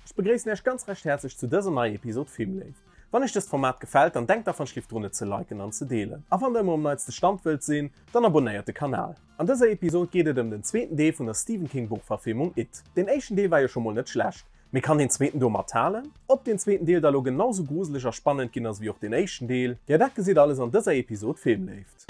Ech begréissen Äech ganz recht häerzlech zu dëser neier Episod Filmléift. Wann Äech dëst Format gefällt, dann denkt dach wanschlift drun et ze liken an ze deelen. A wann der ëmmer um neitste Stand wëllt sinn, dann abonnéiert de Kanal. An dëser Episod geet et ëm den zweeten Deel vun der Stephen King Buchverfilmung It. Deen éischten Deel war jo scho mol net schlecht, mee kann deen zweeten do mathalen? Ob deen zweeten Deel da lo genau sou gruseleg a spannend ginn ass ewéi och deen éischten Deel? Jo dat gesitt alles an dëser Episod Filmléift.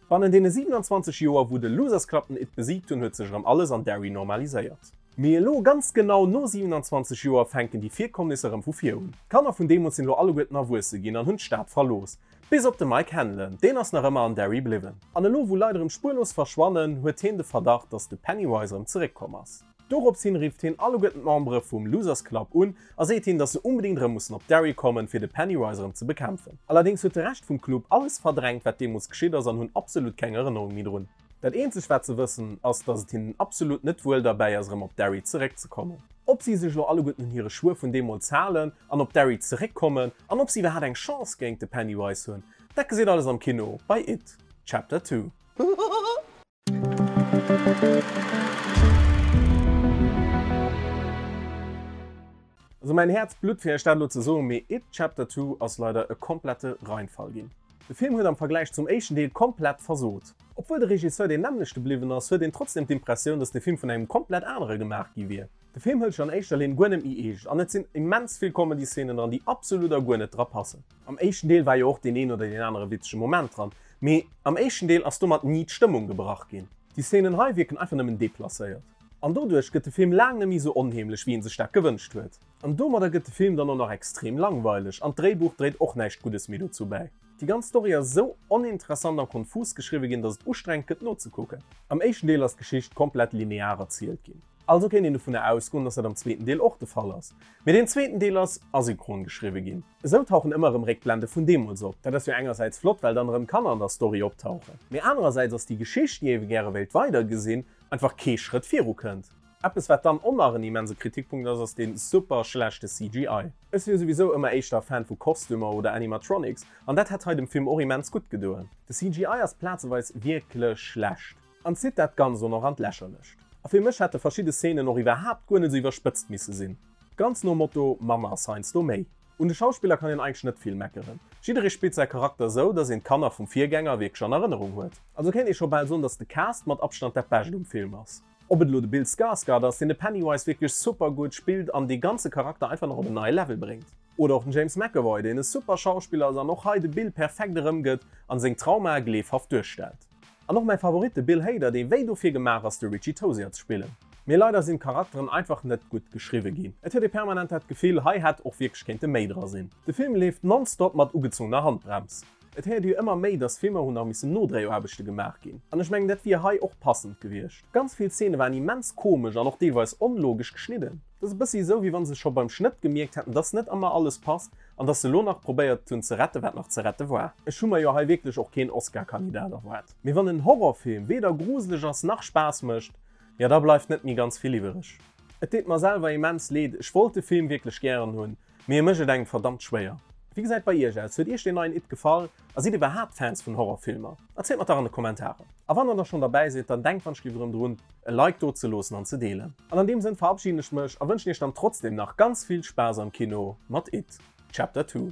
Bannen deene 27 Joer wou de Losers Club den It besiegt hunn huet sech erëm alles an Derry normaliséiert. Mee elo, ganz genau no 27 Joer, fänken déi Virkommnisser erëm vu vir un. D'Kanner vun deemools sinn elo alleguerten erwuesse ginn an hunn d'Stad verlooss. Bis op de Mike Hanlon, deen ass nach ëmmer an Derry bliwwen. An elo wou Leit erëm spuerlos verschwannen, huet heen de Verdacht, datt de Pennywise erëm zeréck komm ass. Dorops hin rifft hien alleguerten d'Membere vum Losers Club un a seet hinnen, dass se unbedéngt erëm mussen op Derry kommen, fir de Pennywise erëm ze bekämpfen. Allerdéngs huet de Rescht vum Club alles verdrängt, wat deemools geschitt ass an hunn absolut keng Erënnerung méi drun. Dat eenzegt, wat se wëssen, ass, dass et hinnen absolut net wuel derbäi ass, erëm op Derry zeréck ze kommen. Ob si sech elo alleguerten un hire Schwuer vun deemools halen an op Derry zeréck kommen an ob si iwwerhaapt eng Chance géingt de Pennywise hunn, dat geséit alles am Kino bei It Chapter Two. Sou mäin Häerz blutt fir iech dat elo ze soen, mee It, Chapter Two ass leider e komplette Reinfall ginn. De Film huet am Vergläich zum éischten Deel komplett versot. Obwuel de Regisseur deen nämmlechte bliwwen ass, huet een trotzdeem d'Impressioun, dass de Film vun engem komplett anere gemaach gi wier. De Film hëlt sech an éischter Linn guer net méi eescht an et sinn immens vill Comedy-Szenen dran, déi absolut a guer net dra passen. Am éischten Deel war jo och deen een oder deen anere witzege Moment dran, mee am éischten Deel ass domat ni d'Stëmmung gebrach ginn. Déi Szenen hei wierken einfach nëmmen deplacéiert. An doduerch gëtt de Film laang net méi esou onheemlech, wéi ee sech dat gewënscht huet. An domadder gëtt de Film dann och nach extrem langweileg an d'Dréibuch dréit och näischt Guddes méi dozou bäi. Déi ganz Story ass esou oninteressant an konfus geschriwwe ginn, dass et ustrengend gëtt nozekucken. Am éischten Deel ass d'Geschicht komplett linear erzielt ginn. Also kéint een dovunner ausgoen, dass dat am zweeten Deel och de Fall ass. Mee deen zweeten Deel ass asynchron geschriwwe ginn. Esou tauchen ëmmer erëm Réckblende vun deemools op. Dat ass jo engersäits flott, well dann erëm Kanner an der Story optauchen. Mee anerersäits ass déi Geschicht, déi ewe gäre wéilt weidergesinn, einfach kee Schrëtt viru kënnt. Eppes wat dann och nach en immense Kritikpunkt ass, ass dee super schlechte CGI. Ech si jo souwisou ëmmer éischter Fan vu Kostümer oder Animatronics, an dat hätt hei dem Film och immens gutt gedoen. De CGI ass plazeweis wierklech schlecht. An zitt dat Ganzt dann och an d'Lächerlecht. A fir mech hätte verschidde Szenen och iwwerhaapt guer net esou iwwerspëtzt misse sinn. Ganz nom Motto, manner ass heiansdo méi. Un de Schauspiller kann een eigentlech net vill meckeren. Jidderee spillt säi Charakter esou, datt een d'Kanner vum Virgänger wierklech an Erënnerung huet. Also kéint ee scho bal soen, datt de Cast mat Abstand dat Bescht um Film ass. Ob et elo de Bill Skarsgard ass, deen de Pennywise wierklech super gutt spillt an dee ganze Charakter einfach nach op en neie Level bréngt. Oder och den James McAvoy, deen e super Schauspiller ass an och hei de Bill perfekt erëmgëtt a seng Traumae gleefhaft duerstellt. An och mäi Favorit, de Bill Hader, dee wéi dofir gemaach ass de Richie Tozier ze spillen. Mee leider sinn d'Charakteren einfach net gutt geschriwwe ginn. Et huet ee permanent dat Gefill, hei hätt och wierklech kéinte méi dra sinn. De Film leeft nonstop mat ugezungener Handbrems. Et héiert ee jo ëmmer méi, dass Filmer hu nach missen Nodréiaarbechte gemaach ginn. An ech mengen, dat wier hei och passend gewiescht. Ganz vill Zeene waren immens komesch an och deelweis onlogesch geschnidden. Dat ass e bëssi esou, wéi wa se scho beim Schnëtt gemierkt hätten, dass net ëmmer alles passt. An dass se elo nach probéiert hunn ze rette wat nach ze rette war. Ech hu mer jo hei wierklech och keen Oscar-Kandidat erwaart. Mee wann en Horrorfilm weder gruseleg ass nach Spaass mécht, jo da bleift net méi ganz vill iwwereg. Et deet mer selwer immens Leed, ech wollt de Film wierklech gären hunn, mee e mécht et engem verdammt schwéier. Wéi gesäit et bei Iech aus? Huet Iech deen neien It gefall? A sidd Dir iwwerhaapt Fans vun Horrorfilmer? Erzielt mer et dach an de Kommentaren. A wann Der da schonn derbäi sidd, dann denkt wannschlief erëm drun e Like do ze loossen an ze deelen. An an deem Sënn verabschieden ech mech a wënschen Iech dann trotzdeem nach ganz vill Spaass am Kino mat It Chapter Two.